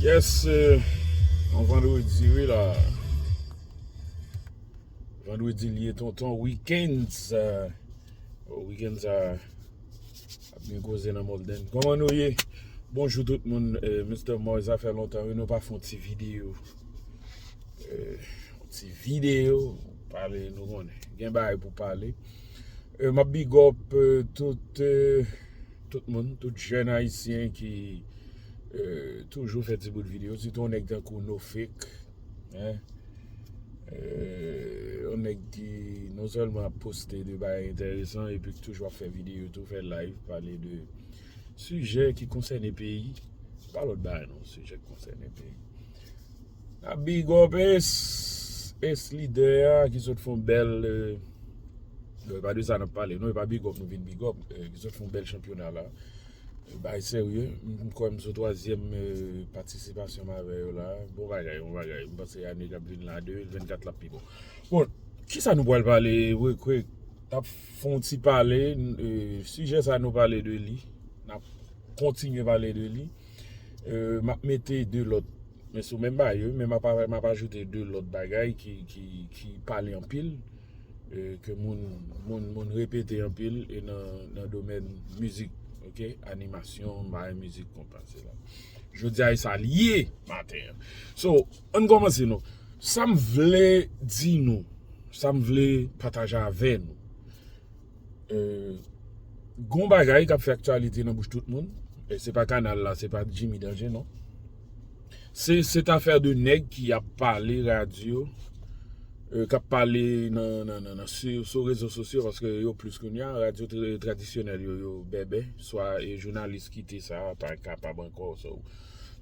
Yes yon vendredi wi la Vendredi li ye tonton week-end sa Week-end sa Ap gen koze nan Molden Koman nou ye Bonjou tout moun Mister Moy sa fè lontan wi nou pa fon ti video Ti video Pale nou konnen Gen bagay pou pale Map big up tout tout moun tout jèn ayisyen ki toujou fè ti bout video sitou yon nèg tankou Nofeek hein yon nèg ki non sèlman ap poste de bagay entèresan epi ki toujou ap fè video tou fè live pale de sijè ki konsène peyi pa lòt bagay non sijè ki konsène peyi. Na big up es es lidè a ki sot fon bèl non e pa de sa nap pale non e pa big up nou vin big up ki sot fon bèl chanpyona la bay serye m kwè m sou twazyèm patisipasyon m avè yo la bon bagay bon bagay m panse ane kap vin la 2024 lap pi bon bon kisa nou pwal pale vre kwe nap fon ti pale sijè sa nou pale de li nap kontinye pale de li map mete 2 lòt Men sou menm bagay yo wi men map ajoute 2 lòt bagay ki pale anpil ke moun repete anpil e nan domèn mizik ok animasyon bay mizik konpa se la jodia e sa li ye maten an so ann kòmanse non sam vle di nou sam vle pataje avè nou gon bagay kap fè aktyalite nan bouch tout moun e se pa kanal la se pa jimmy danger non. Se cette affaire de nèg ki ap pale radio kap pale nan sou rezo sosyo paske yo plis kounya radio tradisyonèl yo yo bèbè swa e jounalis ki te sa pa kapab ankò so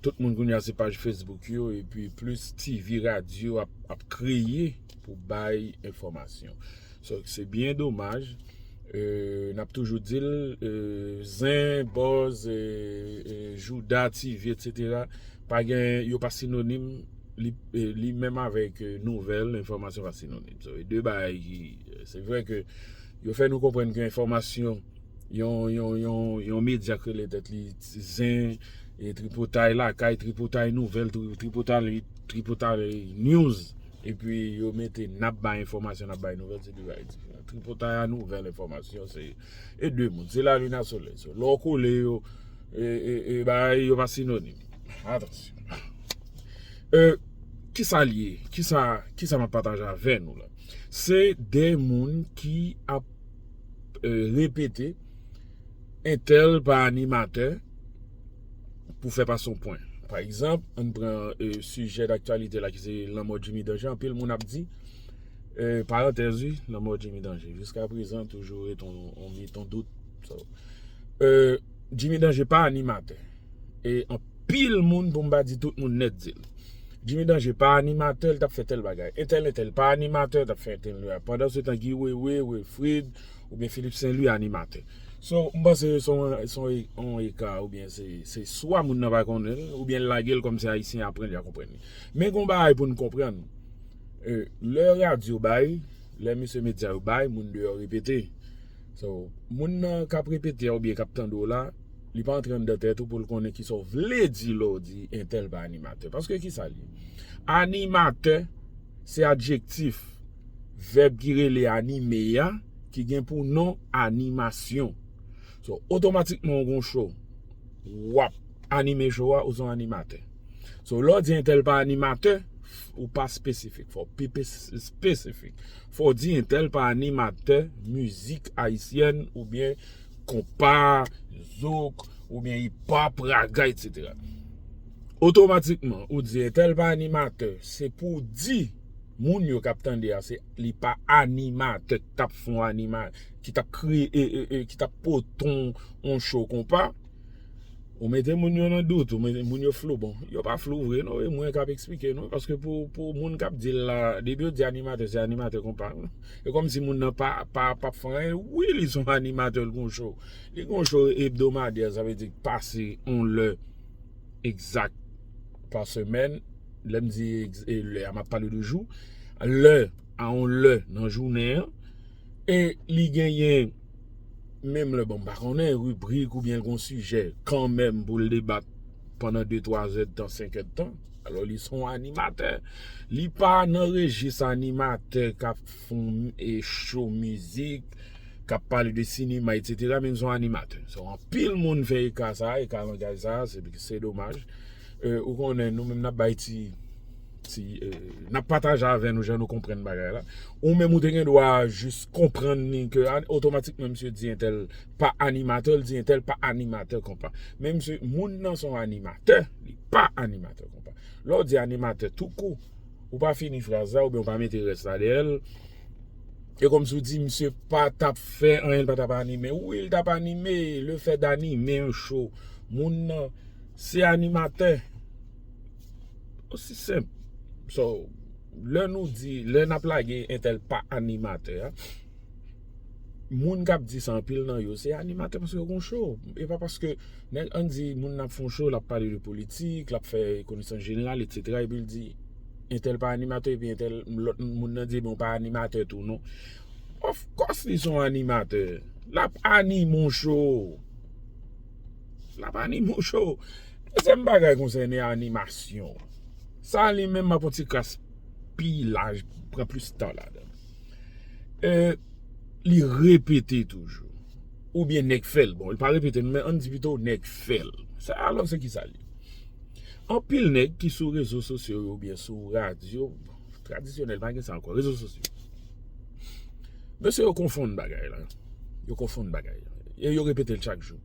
tout moun kounya se paj Facebook yo epi plis TV radio ap kreye pou bay enfòmasyon Se byen domaj, n ap toujou di l, zen, bòz, jouda, TV etc. Pa gen, yo pa sinonim, li menm avèk nouvèl, enfòmasyon pa sinonim. Se de bagay ki, se vre ke yo fè nou konprann ke enfòmasyon, yon medya ki rele tèt li zen, tripotay lakay, tripotay nouvèl, tripotay news. Epi yo mete nap bay enfòmasyon nap bay nouvèl se 2 bagay diferan. Tripotay a nouvèl enfòmasyon se e 2 moun. Se lalin a solèy. So lè w kole yo e bagay yo pa sinonim. Atansyon. E kisa l ye? Kisa map pataje avè nou la? Se 2 moun ki ap repete entèl pa animatè. pou fè pase yon pwen. Pa egzanp, ann pran sijè daktyalite la ki se lanmò Jimmy Danger. Anpil moun ap di, parantèz wi, lanmò Jimmy Danger jiska prezan toujou ret yon mit, yon dout. Jimmy Danger pa animatè. E anpil moun, pou m pa di tout moun nèt di l. Jimmy Danger pa animatè, l t ap fè tèl bagay. Entèl entèl pa animatè, l t ap fè entèl. Pandansetan Guy Wewe, Wilfrid. Ou byen Philippe Saint Louis animatè. So m panse se yon eka ou byen se swa moun nan pa konnen l ou byen l lage l kòm se ayisyen aprann li a konprann li. Men gon bagay pou n konprann lè radyo bay, lè mesye medya yo bay moun deyò repete. So moun nan k ap repete a ou byen k ap tande w la li pa antre anndan tèt ou pou l konnen kisa w vle di lè w di entèl pa animatè. Paske kisa l ye? Animatè se adjektif. Vèb ki rele anime a ki gen pou non animasyon. So, otomatikman ou gen yon show. W ap anime show a, ou se yon animatè. So, lè w di entèl pa animatè, ou pa espesifik. Fò w pi espesifik. Fò w di entèl pa animatè mizik ayisyèn oubyen konpa, zouk, oubyen ipòp, raga, etc. Otomatikman, ou di entèl pa animatè, se pou w di. Moun yo kap tande a se li pa animatè ki tap fon anima ki tap kre e e e ki tap poton on show konpa ou mete moun yo nan dout ou mete moun yo flou bon yo pa flou vre non e mwen kap esplike nou paske pou pou moun kap di la depi yo di animatè se animatè konpa e kòm si moun nan pa pa pap fon anyen wi li son animatè l gon show li gon show hebdomadaire sa vle di k pase on lè. egzak pa semèn, lè m di lè a m ap pale de jou, lè a on lè nan jounen an e li genyen menm lè bon m pa konnen ribrik ou byen gon sijè kanmenm pou l debat pandan 2 3 zèdtan 5 èdtan alò li son animatè li pa nan rejis animatè k ap Pou e show mizik kap pale de sinema etc men son animatè so anpil moun fè eka sa eka langaj sa se domaj ou konnen nou menm nap bay ti ti nap pataje avè nou jan nou konprann bagay la ou menm ou te gen dwa jis konprann ni ke otomatikman misye di entèl pa animatè li di entèl pa animatè konpa men misye moun nan son animatè li pa animatè konpa lè ou di animatè tou kou Ou pa fini fraz la oubyen ou pa mete rès la dèyè l. E kòmsi w di misye pa t ap fè anyen, l pa t ap anime. Wi, l t ap anime. Lefè danime yon cho, moun nan se animatè. Osi senp. So, lè nou di, lè n ap lage entèl pa animatè a. Moun kap di sa anpil nan yo se animatè paske yo gon show e pa paske nèg an di moun nan ap fè yon show lap pale de politik lap fè konesans jeneral etc epi l di entèl pa animatè epi entèl lòt moun nan di ou pa animatè tou non of course li son animatè lap anime yon show lap anime yon show dezyèm bagay konsène animasyon sa li menm map fè yon ti kras pi laj pran plis tan ladann. E li repete toujou. Ou byen nèg fèl. Bon, li pa repete men an di pito nèg fèl. Sa alò se ki sa li. An pil nèg ki sou rezo sosyo ou byen sou radyo. Tradisyonèl pa gen sa ankò. Rezo sosyo. Mesye yo konfonn bagay la. Yo konfonn bagay la. E yo repete l chak jou.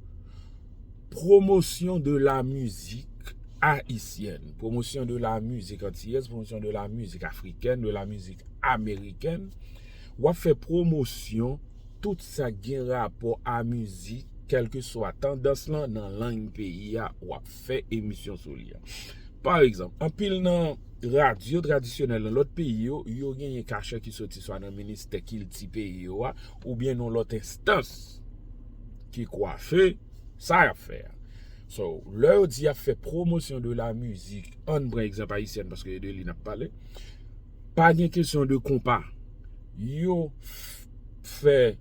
Promosyon de la mizik ayisyèn, promosyon de la mizik antiyèz, promosyon de la mizik afrikèn, de la mizik amerikèn. W ap fè promosyon tout sa k gen rapò a mizik, kèlke swa tandans lan nan lang peyi a, w ap fè emisyon sou li. Pa egzanp, anpil nan radyo tradisyonèl nan lòt peyi yo, yo genyen kachè ki soti swa nan ministè kilti peyi yo a oubyen nan lòt enstans ki kwafe. Sa yap fè a. So, lè yo di yap fè pwomosyon de la mizik, ann pran egzanp ayisyèn paske e de li nap pale, pa gen kesyon de konpa. Yo fè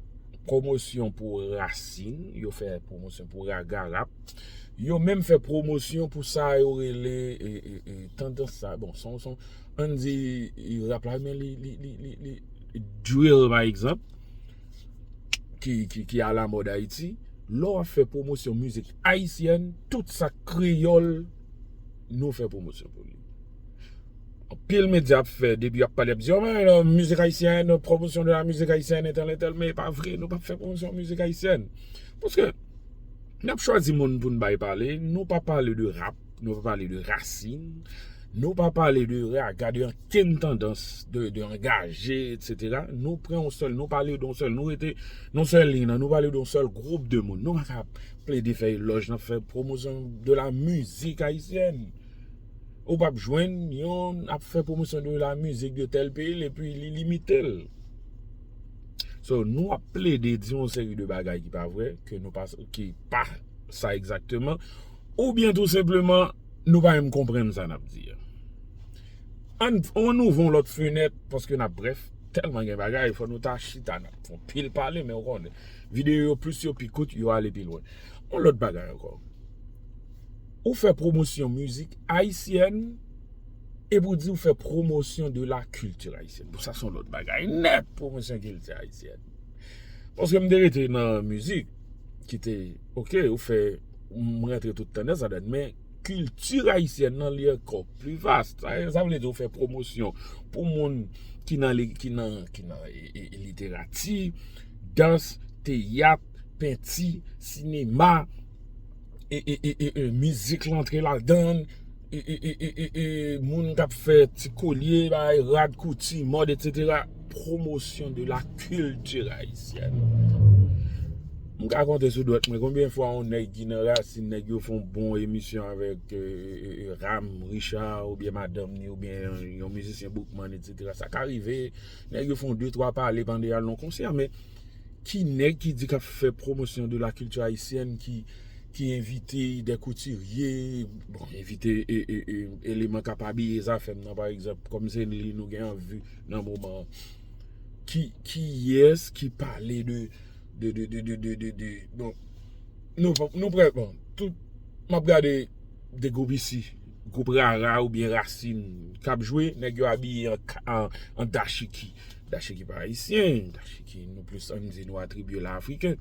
pwomosyon pou rasin, yo fè pwomosyon pou raga rap, yo menm fè pwomosyon pou sa yo rele e tandans sa. Bon, son, son, ann di rap la men li, li, li, li, li drill pa egzanp. ki a la mòd Ayiti, lè w ap fè pwomosyon mizik ayisyèn, tout sa k kreyòl, nou fè pwomosyon pou li. Anpil medya ap fè, depi y ap pale, y ap di, men, mizik ayisyèn, pwomosyon de la mizik ayisyèn, etèl, etèl, men e pa vre, nou pa fè pwomosyon mizik ayisyèn. Paske, lè nou chwazi moun pou nou bay pale, nou pa pale de rap, nou pa pale de rasin, nou pa pale de raga, de an. kite n tandans de angaje etc. Nou pran yon sèl, nou pale de yon sèl, nou rete yon sèl liy nan, nou pale de yon sèl gwoup de moun. Nou pa ka plede fè elòj nan fè pwomosyon de la mizik ayisyèn. Ou pap jwenn yon ap fè pwomosyon de la mizik de tèl peyi l epi li limite l. So nou ap plede di yon seri de bagay ki pa vre, ke nou pa, ki pa sa egzakteman, oubyen tou senpleman nou pa menm konprann sa n ap di a. Ann ann ouvè yon lòt fenèt paske nap brèf tèlman gen bagay fò nou ta chita nap fè yon pil pale men ou konnen videyo yo plis yo pi kout yo ale pi lwen yon lòt bagay ankò ou fè pwomosyon mizik ayisyèn epi ou di ou fè pwomosyon de la kilti ayisyèn bon sa son lòt bagay nèt pwomosyon kilti ayisyèn paske m te rete nan mizik ki te ok ou fè m rantre tout tandans ladann men Culture haïtienne nan li ankò plus vaste. Sa vle di ou fè pwomosyon pou moun ki nan literati, dans, teyat, penti, sinema, mizik lan antre ladann, moun kap fè ti kolye, rad, kouti, mòd etc. Pwomosyon de la culture haïtienne. M ka konte sou dwèt mwen konbyen fwa yon nèg ki nan rasin nèg yo fon bon emisyon avèk Ram, Richard oubyen madanm ni oubyen yon mizisyen Boukman etsetera sa ka rive nèg yo fon de twa pale pandan yal nan yon konsè men ki nèg ki di kap fè pwomosyon de la kilti ayisyèn ki envite de koutirye bon envite eleman kap abiye zafèm nan pa egzanp kòm se li nou gen anvi nan moman kiyès ki pale de 2 2 2 2 2 2 bon nou fòk nou prè bon tout map gade 2 gwoup isi gwoup rara oubyen rasin kap jwe nèg yo abiye an dashiki dashiki pa ayisyen dashiki nou plis an di nou atribye la afriken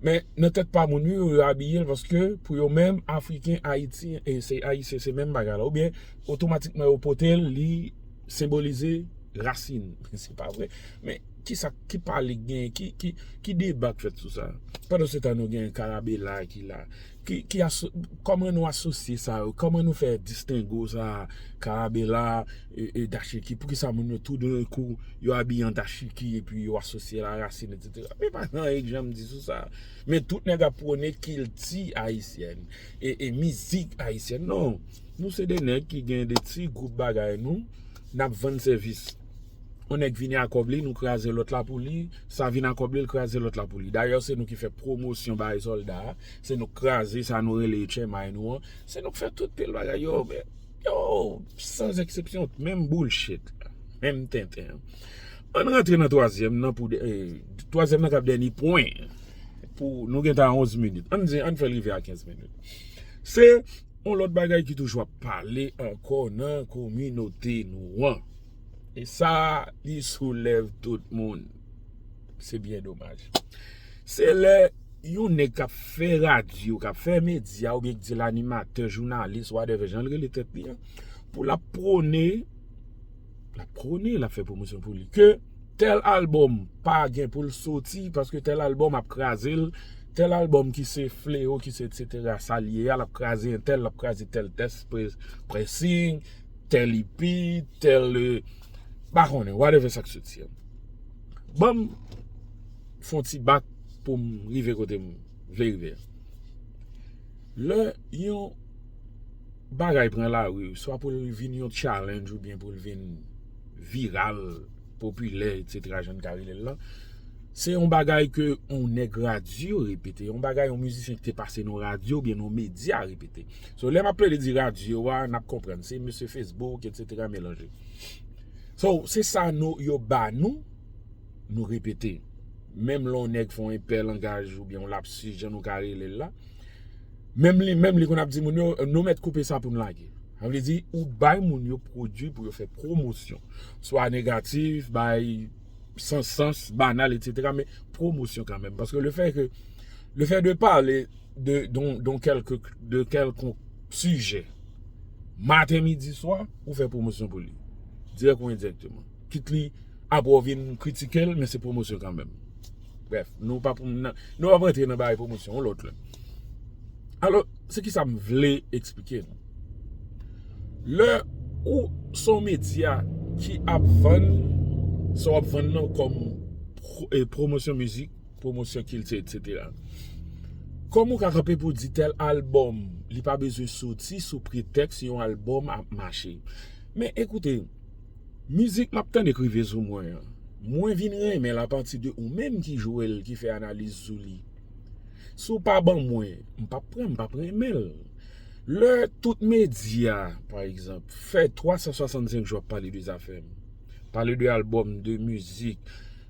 men nan tèt pa moun yo yo abiye paske pou yo menm afriken ayiti se ayisyen se menm bagay la oubyen otomatikman yo potel li senbolize rasin se pa vre men Kisa ki pale k genyen, ki deba k fèt sou sa? Pandan se tan nou gen karabela ki la, ki aso, kòman nou asosye sa yo, kòman nou fè distingo sa, karabela e dachiki, poukisa moun yo tou dan kou yo abiye an dachiki epi yo asosye la rasin etsetera. Men pa gen anyen k janm di sou sa. Men tout nèg ap pwone kilti ayisyèn e mizik ayisyèn. Non, nou se de nèg ki gen de ti gwoup bagay nou, n ap vann sèvis. On nèg vini a kòb li nou kraze lòt la pou li, sa vini a kòb li l kraze lòt la pou li. Dayè se nou ki fè pwomosyon bay sòlda a, se nou k kraze sa nou rele etchèmay nou an, se nou k fè tout pil bagay yo men Yow san zeksepsyon menm boulshit menm tenten Ann rantre nan twazyèm nan pou dè twazyèm nan k ap dèni pwen pou nou gen tan a onz minit ann di ann fè l rive a kenz minit se on lòt bagay ki toujou ap pale ankò nan kominote nou an. E sa li sou lèv tout moun. Se byen domaj. Se lè yon nèg k ap fè radyo, k ap fè medya oubyen k di l animatè, jounalis, whatever, jan l rele tèt li an, pou l ap pwone, l ap pwone, l ap fè pwomosyon pou li, ke tèl albòm pa gen pou l soti paske tèl albòm ap kraze l, tèl albòm ki se fleo, ki se etsetera, sa l ye a, l ap kraze entèl, l ap kraze tèl tès, pressing, tel ipi tel pa konnen whatever sak soti an banm fon ti bak poum rive kotem vle rive an lè yon bagay pran lari swa poul vin yon challenge oubyen poul vin viral popilè etc jann ka relel lan se yon bagay ke yon nèg radyo repete yon bagay yon mizisyen ki te pase nan radyo oubyen nan medya repete. So lè map plede di radyo a nap konprann se mesye Facebook etc melanje. So se sa nou yo ba nou nou repete. Menm lè yon nèg fè yon enpè langaj oubyen yon lapsus jan nou ka rele l la, menm li menm li konn ap di moun yo nou mèt koupe sa pou nou lage. Sa vle di ou bay moun yo pwodui pou yo fè pwomosyon. Swa negatif, bay san sans, banal etc men pwomosyon kanmenm paske le fè ke le fè de pale de kèlkonk sijè maten, midi, swa, ou fè pwomosyon pou li. Dirèk ou endirèkteman. Kit li apre ou vin kritike l men se pwomosyon kanmèm. Brèf, nou pa pou nan, nou pa pou antre nan bagay pwomosyon yon lòt lè. Alò, se ki sa m vle eksplike nou. Lè ou son medya ki ap vann sa w ap vann nan kòm pwomosyon mizik. pwomosyon kilti etc. Kòman ou ka kanpe pou w di tèl albòm li pa bezwen soti sou pretèks yon albòm ap mache. Men ekoute, mizik m ap tande k rive sou mwen an, mwen vin renmen l apati de ou menm ki jwe l, ki fè analiz sou li. Si w pa ban mwen, m p ap pran, m p ap renmen l. Lè tout medya, pa egzanp, fè 365 jou ap pale de zafè m, pale de albòm, de mizik.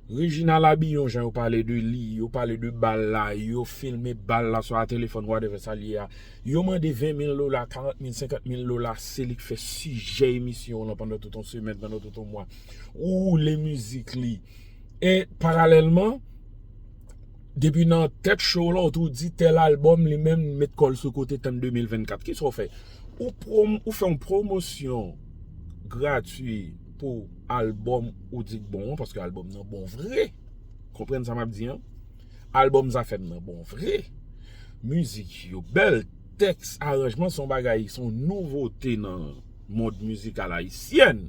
Reginald Abillon jan yo pale de li, yo pale de bal la, yo filme bal la swa telefòn whatever sa l ye a. Yo mande 20 mil dola, 40 mil, 50 mil dola se li k fè sijè emisyon w lan pandan tout yon semèn, pandan tout yon mwa. Ou woule mizik li. E paralèlman, depi nan tèt cho w lan ou tou di tèl albòm li menm li met kò l sou kote tann 2024. Kisa w fè? Ou fè yon pwomosyon gratwi. pou album ou di k bon an paske album nan bon vre konprann sa map di an album zafem nan bon vre mizik yo bèl tèks aranjman son bagay son nouvote nan mond mizikal ayisyen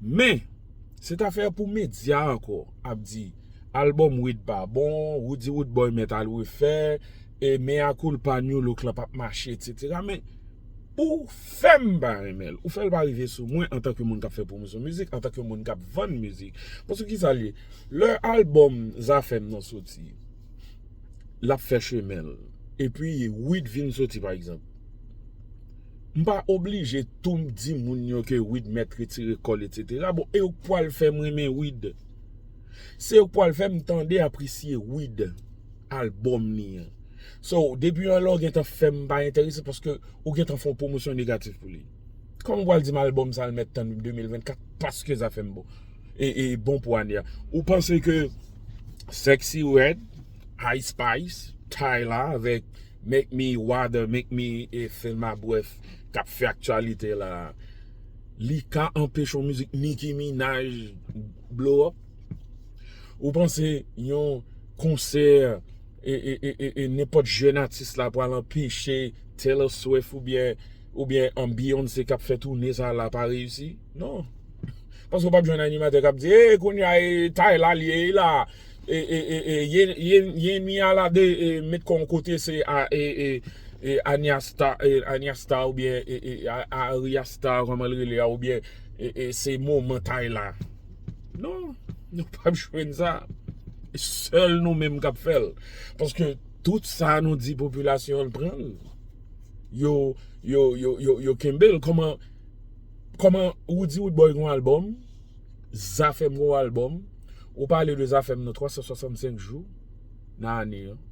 men se ta fè pou medya ankò ap di album wid pa bon roody roodboy mèt al refè e mea koulpa nu look lan pap mache etc men Ou fèm pa renmenl. Ou fèl pa rive sou mwen antan ke moun kap fè pwomosyon mizik, antan ke moun kap vann mizik. Paske kisa l ye? Lè album zafèm nan soti, lap fè chemen l. Epi Wid vin soti pa egzanp. M pa oblije tou di moun yo ke Wid mèt retire kòl etc. Bon e yo k pwal fèm renmen Wid. Se yo k pwal fèm tande apresye Wid, album li an. So, depi yon lè ou gentan fè m pa enterese paske ou gentan fè yon pwomosyon negatif pou li. Kòman ou pral di m albòm sa l mèt tann 2024 paske zafè m bon e bon pou ane a. Ou panse ke Sexyy Red, Ice Spice, Tyla avèk Make Me Water, Make Me Feel My Breath k ap fè aktyalite la a, li ka anpeche yon mizik Nicki Minaj blow up? Ou panse yon konsè. e nenpòt jèn atis la pral anpeche Taylor Swift oubyen an Beyoncé kap fè toune sa la pa reyisi non paske ou pap jwenn animatè kap di e kounya e tay la liye la e yenmi a la de met kòw kote se a e Ania Star Ania Star oubyen e Aria Star kòman li rele a oubyen e se moman tay la. Non, nou pap jwenn sa. Sèl nou menm kap fè l. Paske tout sa nou di popilasyon an pran l. Yo, yo, yo, yo, yo kenbe l. Kòman, kòman ou di ou bòy gon albòm? Zafèm gon albòm? Ou pale de zafèm nan 365 jou nan ane an.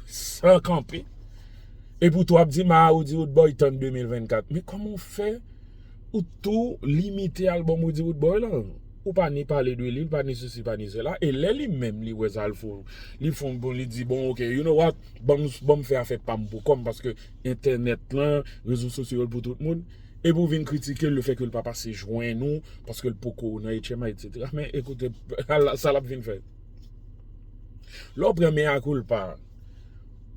San kanpe. Epoutou ap di ma ou di ou bòy tann 2024. Men kòman ou fè? Ou tou limite album Rudy Roodboy la. Ou pa ni pale de li, ou pa ni sesi, pa ni sela. E lè li menm li wè sa l fou, li fon bon, li di bon ok, you know what, ban m fè afè pa m pou kò m paske entènèt lan, rezo sosyo yo l pou tout moun. Epi ou vin kritike l le fè ke l pa pase jwenn ou paske l poko nan HMI etc. Men ekoute, sa l ap vin fè? Lè w pran mea culpa.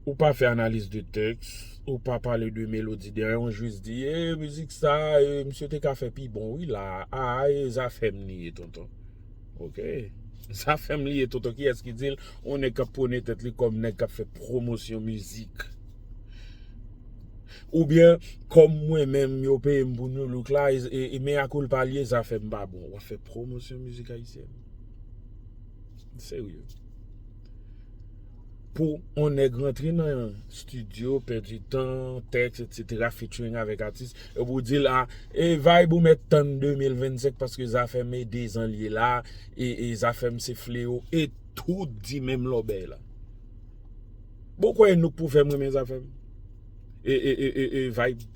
Ou pa fè analiz de tèks, ou pa pale de melodi dèyè yon jis di e mizik sa e misye te ka fè pi bon wi la a e zafèm li ye tonton. Ok, zafèm li ye tonton kiyès ki di l yon nèg k ap pwone tèt li kòm nèg k ap fè pwomosyon mizik? Oubyen kòm mwen menm yo peye m pou Nu Look la e mea culpa l ye zafèm pa bon. W ap fè pwomosyon mizik ayisyèn? Serye. Pou on nèg rantre nan yon studio, pèdi tan, tèks etc featuring avèk atis, epi ou dil a e vibe ou mèt tann 2025 paske zafèm e 2 zan liye la e zafèm se fleo e tout di menm lòbèy la. Bon kwè Anouk pou fèm renmen zafèm e vibe.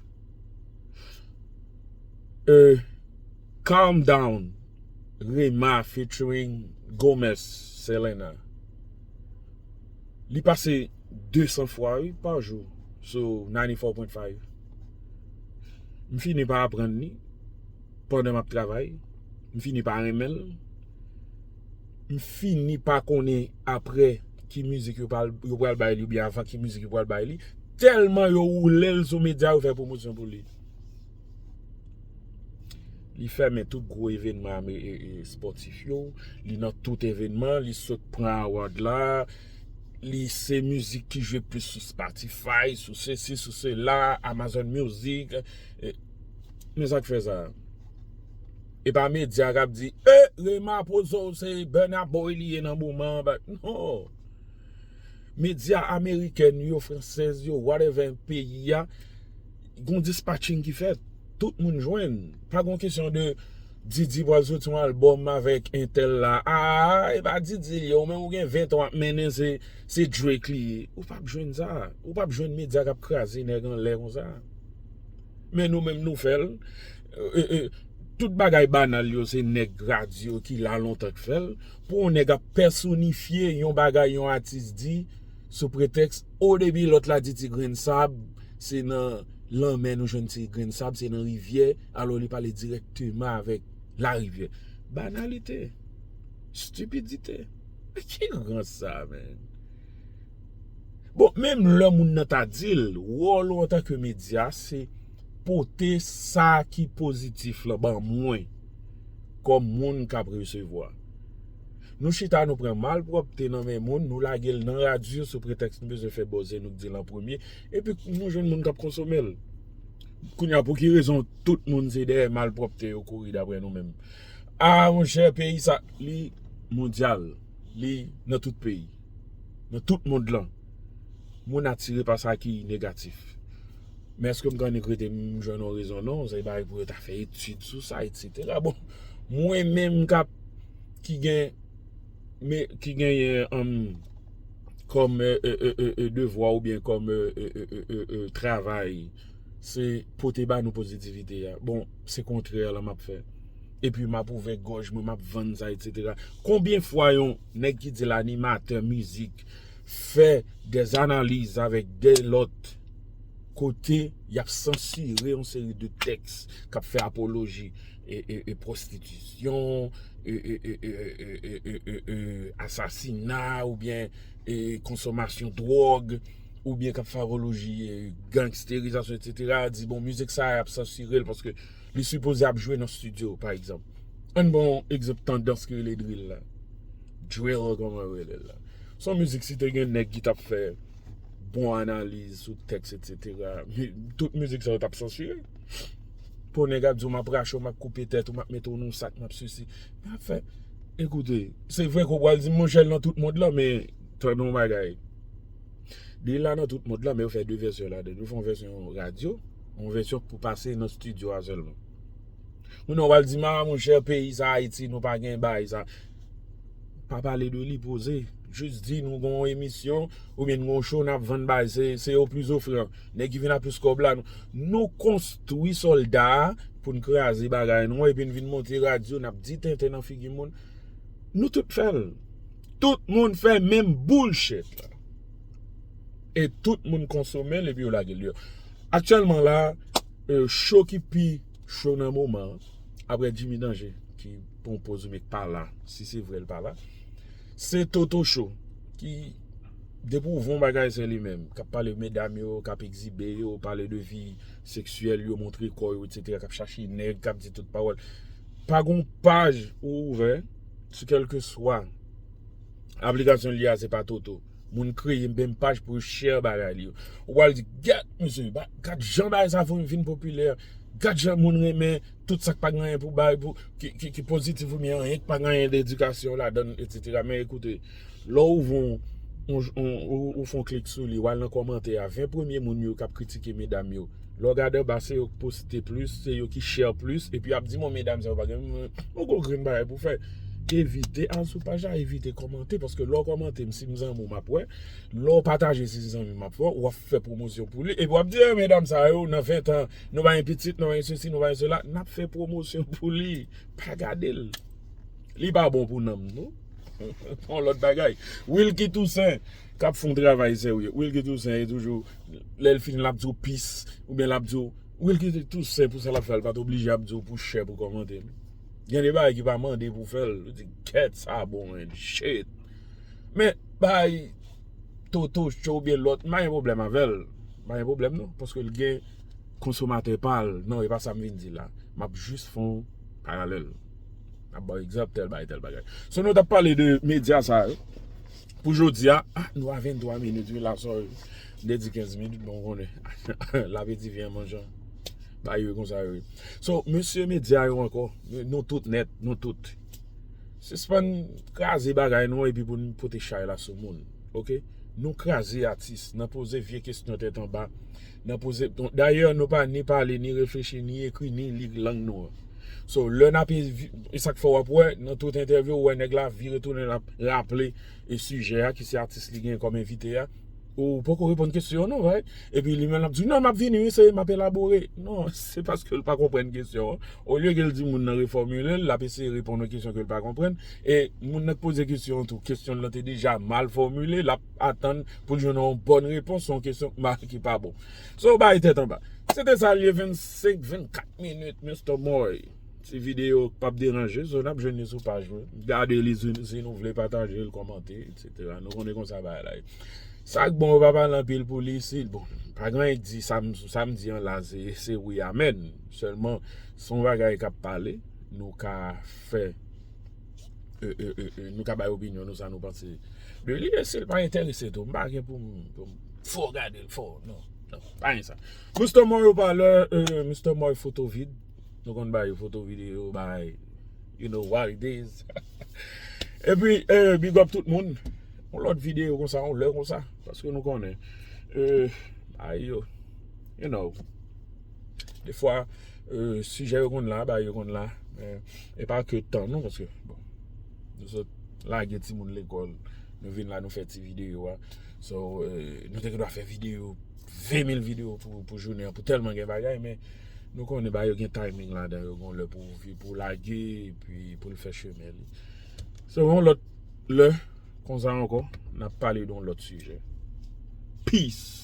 Euh calm down rema featuring Gomez selena li pase 200 fwa wi pa jou sou 94.5 m fini pa aprann li pandan map travay m fini pa renmen l m fini pa konnen aprè ki mizik yo pral bay li oubyen avan ki mizik yo pral bay li tèlman yo woule l sou medya yo fè pwomosyon pou li. Li fèmen tout gwo evenman spòtif yo, li nan tout evenman, li sot pran award la, li se mizik ki jwe plis sou Spotify, sou se si, sou se la, Amazon Music. Men sa k fè sa? E pa medya k ap di, e, Rema poze w se Burna Boy li ye nan moman an, bat, non. Medya Amerikèn yo, Fransèz yo, whatever, peyi a. Gon dispatching ki fèt, tout moun jwenn. Pa gon kesyon de Didi pral soti yon album avèk entèl la. Aa e pa Didi li ye, ou menm ou gen 20 tan wap mennen se Drake li ye. Ou pap jwenn sa. Ou pap jwenn medya kap kraze nèg anlè konsa. Men nou menm nou fèl. Tout bagay banal yo se nèg radyo ki la lontan k fèl. Pou yon nèg ap pèsonifye yon bagay yon atis di sou pretèks. O depi lòt la di ti grenn sab se nan lanmè nou jwenn ti grenn sab se nan rivyè alò li pale dirèkteman avèk larivyè banalite stipidite men ki rans sa menn bon menm lè moun nan ta dil wòl ou antanke medya se pote sa ki pozitif la ban mwen kòm moun kap resevwa Nou chita nou pran malpwòpte nan men moun, nou lage l nan radyo sou pretèks nou bezwen fè bòzè, nou k di l an premye, epi nou jwenn moun k ap konsome l. Kounye a, pou ki rezon tout moun se dèyè malpwòpte yo kouri daprè nou menm? A, monchè, peyi sa, li mondyal, li nan tout peyi, nan tout mond lan. Moun atire pa sa ki negatif. Men èske m konn yon kote m jwenn yon rezon? Non, se bagay pou yo ta fè etid sou sa, etsetera. Bon, mwen menm k ap. ki gen men ki genyen an kòm devwa ou byen kòm travay se pote ba nou pozitivite ya bon se kontrè la map fè epi map ouvè gòj mwen map vann sa etc konbyen fwa yon nèg ki di l animatè mizik fè dè analiz avèk dè lòt kote yap sansire yon seri de tèks kap fè apoloji e prostitution, e asasina ou byen e konsomasyon drog, ou byen kap favoloji e gangsterizasyon etc. Di bon mizik sa yap sansurel paske li sipoze ap jwe nan studio pa egzanp. Ann ba yon egzanp tandans ki rele drill la. Drill koman yo rele l la. Se yon mizik si te gen nèg ki tap fè bon analiz sou tèks etc. Tout mizik sa yo tap sansure. Pou nèg ap di w map rache w map koupe tèt ou map mete w nan sak map sesi map fè ekoute se vre ke w pral di m monchè l nan tout mond lan men tande yon bagay li la nan tout mond lan men yo fè 2 vèsyon ladan l yo fè yon vèsyon radyo yon vèsyon pou pase nan stidyo a sèlman kounye a w pral di m a monchè peyi sa ayiti nou pa gen bagay sa pa pale de li poze jis di nou gen yon emisyon oubyen nou gen yon show nap vann bagay se yo plis ofran. Nèg ki vin ak plis kòb la Nou konstwi sòlda pou n kraze bagay nou an epi n vin monte radyo n ap di tenten nan figi moun Nou tout fè l Tout moun fè menm bullshit la E tout moun konsome l epi yo lage l deyò Aktyèlman la Cho ki pi cho nan moman an aprè Jimmy Danger ki pran yon poz li menm k pa la si se vre l pa la Se Toto show ki depi ou voun bagay se li menm kap pale medam yo kap egzibe yo pale de vi seksyèl yo montre kò yo etc kap chache nèg kap di tout pawòl pa gon paj ou ouvè sou kèlkeswa aplikasyon li a se pa Toto moun kreye menm paj pou yo share bagay li yo ou pral di gad misye gad jan bagay sa vin popilè gad jan moun renmen. tout sak pa gen anyen pou bay pou ki pozitif ou byen anyen ki pa gen anyen de edikasyon ladan etc. Men ekoute lè ou ouvri yon ou fon klik sou li ou al nan kòmantè a 20 premye moun yo kap kritike medam yo lè ou gade anba se yo ki poste plis se yo ki share plis epi yap di bon medam sa yo pa gen yon gwo grenn bagay pou fè evite al sou paj la evite kòmante paske lè ou kòmante m si m zanmi w map wè lè ou pataje si se zanmi w map wè wap fè pwomosyon pou li. Epi w ap di, e medam sa yo, nan ventan, nou ba yon pitit, nou ba yon sesi, nou ba yon sela, n ap fè pwomosyon pou li. Pa gade l. Li pa bon pou nanm nou. Yon lòt bagay. Wilky Toussaint, k ap fè yon travay serye. Wilky Toussaint, e toujou, lè l fini, l ap di w pis. Ou byen l ap di w, Wilky Toussaint, pou sa l ap fè a, l pa t oblije ap di w pou chè pou kòmante l. Gen de bagay ki pa mande pou w fè l. Ou di, kèt sa bon menn. Shit! Men, bay. Toto show oubyen lòt, m pa gen pwoblèm avè l. M pa gen pwoblèm non, paske l gen konsomatè pa l. Non, e pa sa m vin di la. M ap jis fè yon paralèl. M ap ba w egzanp tèl bagay, tèl bagay. So nou t ap pale de medya sa yo, pou jodi a, a nou a 23 minit wi la sòy. M te di 15 minit, bon ou konnen, lapeti vyen an manjan. Bagay yo konsa wi. So, mesye medya yo ankò, nou tout nèt, nou tout. Sispann kraze bagay nou epi pou nou pote chay la sou moun ok nou kraze atis nan poze vye kesyon tèt anba nan poze dayè nou pa ni pale ni reflechi ni ekri ni li lang nou an so lè n ape e sak fè w ap wè nan tout entèvyou ou wè nèg la vire tounen l ap raple e sijè a ki se atis li gen kòm envite a. Ou poko reponn kesyon an non bhai. Epi li menm lap di non map vini wi seye map elabore. Non se paskel pa konprann kesyon an. Olye kel di moun nan refòmilel lap eseye reponn yon kesyon kel pa konprann. E moun nan k poze kesyon an tou kesyonl lan te deja mal fòmile lap atann poul jwenn yon bòn repons sou yon kesyon k mal ki pa bon. Sa w bay tèt anba. Se te sa l ye 25 24 minit Mister Moy. Ti video k pap deranje so nap jwenn li sou paj mwen. Gade li si nou vle patajel kòmante etc. Nou konnen konsa bagay la ye. Sak bon yo pa pale anpil pou li isit bon pa gen anyen k di sam di an la se wi amèn sèlman son bagay kap pale nou ka fè nou ka bay opinyon nou sa nou panse de li e sil pa entèrese tou m pa gen poum fò gadel fò nan pa gen sa Mister Moy ou pa lè Mister Moy foto vid nou konn bay foto vid yo bay you know what it is epi bigòp tout moun. Yon lòt videyo konsa yon lè konsa. Paske nou konnen. Bagay yo. You know. De fwa. Sijè yo konn la. Bagay yo konn la. E pa ke tan nou. Paske. Nou sot. Lage ti moun lekol. Nou vin la nou fè ti videyo a. So. Nou te dwa fè videyo. 20000 videyo pou jounen an. Pou telman gen bagay. Men. Nou konnen bagay yo gen timing la. Yon lè pou lage. Pou l fè chemen li. So yon lòt lè konsa ankò nap pale don lòt sijè. Peace!